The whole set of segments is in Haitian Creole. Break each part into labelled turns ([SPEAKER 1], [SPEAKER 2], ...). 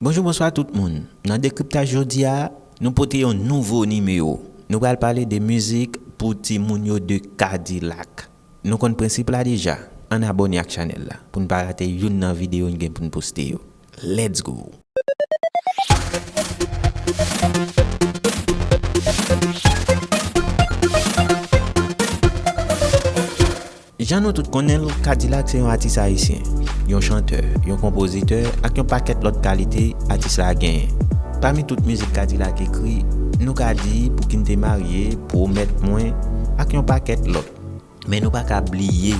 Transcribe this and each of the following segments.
[SPEAKER 1] Bonjou bonswa tout moun nan dekriptaj jodi a nou pote yon nouvo nimewo nou pral pale de mizik pou ti moun yo de kadilak nou konn prensip la deja ann abòne ak chanèl la poun pa rate youn nan videyo n gen poun poste yo Let's go! Jan nou tout konnen l, Kadilak se yon atis ayisyen, yon chantè, yon konpozitè ak yon pakèt lòt kalite atis la genyen. Pami tout mizik Kadilak ekri, nou ka di Pou ki n te marye, Pwomèt mwen, ak yon pakèt lòt. Men nou pa ka bliye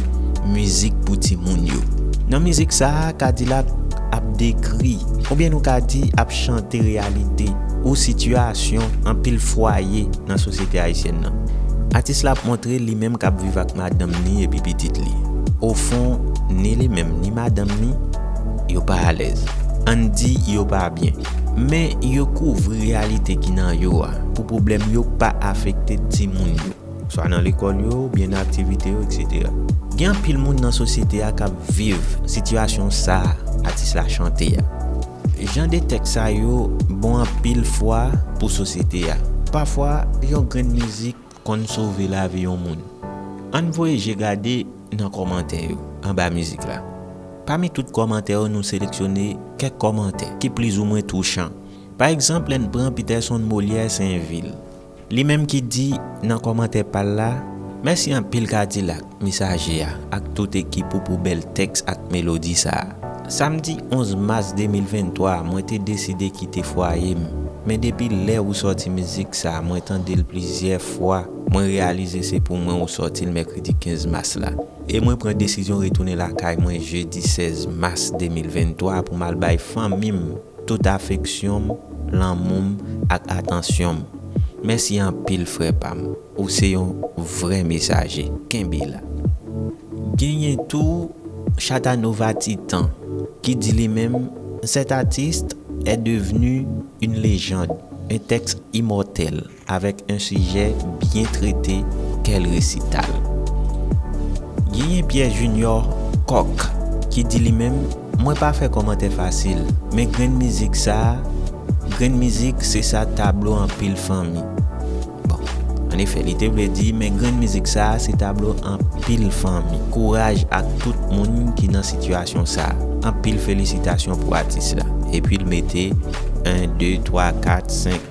[SPEAKER 1] mizik pou timoun yo. Nan mizik sa a, K-Dilak ap dekri, oubyen nou ka di ap chante reyalite ou sitiyasyon anpil fwaye nan sosyete ayisyèn nan. Atis la ap montre li menm k ap viv ak madanm ni epi pitit li. Ofon, ni li menm ni madanm ni, yo pa alèz. An n di yo pa byen. Men yo kouvri reyalite ki nan yo a pou pwoblèm yo pa afekte timoun yo. swa nan lekòl yo oubyen nan aktivite yo eksetera. Gen anpil moun nan sosyete a k ap viv sitiyasyon sa a atis la chante a. Jan de tèks sa yo bon anpil fwa pou sosyete a. Pafwa, yon grenn mizik konn sove lavi yon moun. Ann voye je gade nan kòmantè yo anba mizik la. Pami tout kòmantè yo nou seleksyone kèk kòmantè ki plizoumwen touchan. Pa egzanp lè n pran Peterson Molière Sainvil. Li menm ki di nan kòmantè pal la. Mèsi anpil kadilak, mesaje a ak tout ekip ou pou bèl tèks ak melodi sa a. Samdi 11 mas 2023 mwen te deside kite fwaye m, men depi lè ou sòti mizik sa mwen tande l plizyè fwa mwen reyalize se pou mwen ou sòti l mèkredi 15 mas la e mwen pran desizyon retounen lakay mwen jedi 16 mas 2023 pou m al bay fanmi m tout afeksyon m, lanmou m ak atansyon m. Mèsi anpil frè pa m, ou se yon vrè mesaje. Kenbe la. Genyen tou Chatanova Titan ki di li menm, Cet artiste est devenu une légende, un texte immortel. Avèk yn sijè byen trete kèl resital. Genyen Pierre Junior Kòk ki di li menm mwen pa fè kòmantè fasil men grenn mizik sa grenn mizik se sa tablo anpil fanmi bon an efè li te vle di men grenn mizik sa se tablo anpil fanmi kouraj ak tout moun ki nan sitiyasyon sa anpil felisitasyon pou atis la epi l mete 1 2 3 4 5.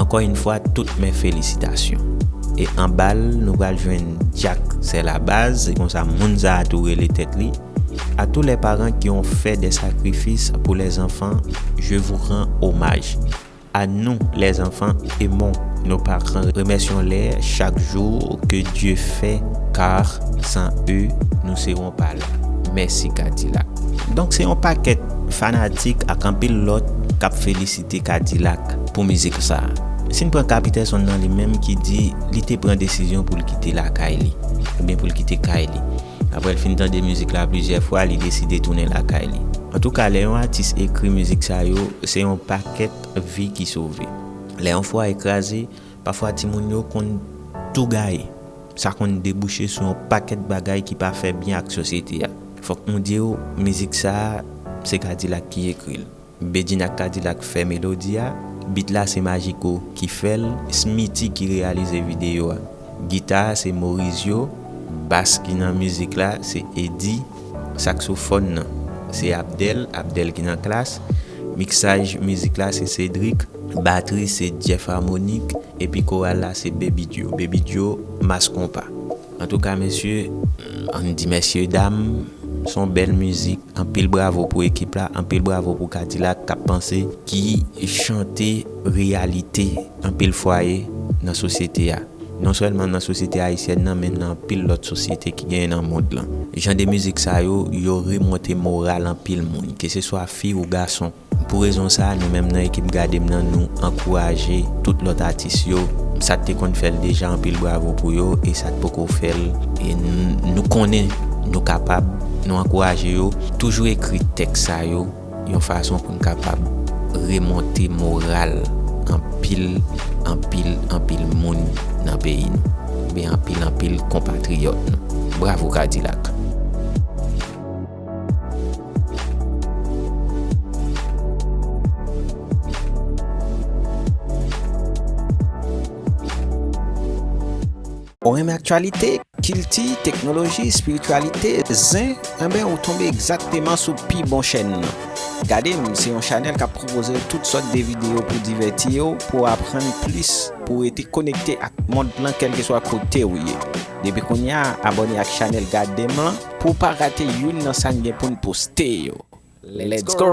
[SPEAKER 1] Ankò yn fwa tout mes felisitasyon. E anbal nou pral jwenn Jack sè la baz se konsa moun sa tou rele tèt li a tou lè paran ki on fè dè sakrifis pou lè anfan je vou ran omaj a nou lè anfan emon nou paran remèsyon lè chak jou ke Dye fè kar san e nou se on pa la mèsi kadilak donk se on pakèt fanatik ak anpil lòt kap felisite. te kadilak pou mizik sa. Si n pran Capiterson nan li menm ki di li te pran desizyon pou l kite lakay li, oubyen pou l kite kay li. Aprè l fin tande mizik la plizyè fwa li deside tounen lakay li. Antouka lè yon atis ekri mizik sa yo se yon pakèt vi ki sove. Lè yon fwaye kraze, pafwa timoun yo konn tou gaye. Sa konn debouche sou yon pakèt bagay ki pa fè byen ak sosyete a. Fòk nou di w mizik sa se kadilak ki ekri l. Bedjine ak Kadilak fè melodi a, beat la se Majiko ki fè l, Smithy ki reyalize videyo a. Gita a se Morizyo, bass ki nan mizik la se Eddy, saksofòn nan se Abdel, Abdel ki nan Klass, miksaj mizik la se Cedric, batri se Jeff Harmonik epi koral la se Baby Djo, Baby Djo, Mass Konpa. Antouka mesye ann di mesye dam son bèl mizik anpil bravo pou ekip la anpil bravo pou kadilak kap panse ki chante reyalite anpil fwaye nan sosyete a non sèlman nan sosyete ayisyèn nan men nan anpil lòt sosyete ki genyen nan mond lan jan de mizik sa yo yo remonte moral anpil moun ke se swa fi ou gason. Pou rezon sa, nou menm nan ekip Gade m nan nou ankouraje tout lòt atis yo, sa k te konn fè l deja anpil bravo pou yo e sa k poko fè l e nou konnen nou kapab, nou ankouraje yo toujou ekri tèks sa yo yon fason pou n kapab remonte moral anpil anpil anpil moun nan peyi nou oubyen anpil anpil konpatriyòt nou. Bravo Kadilak! Ou renmen aktyalite, kilti, teknoloji, espirityalite, zen? Enben, ou tonbe egzakteman sou pi bon chèn nan. Gade m se yon chanèl k ap pwopoze ou tout sòt de videyo pou divèti ou, pou aprann plis, pou rete konekte ak mond lan kèlkeswa kote ou ye. Depi kounye a, abòne ak chanèl Gade M lan. Pou w pa rate youn nan sa n gen pou n poste yo! Let's go!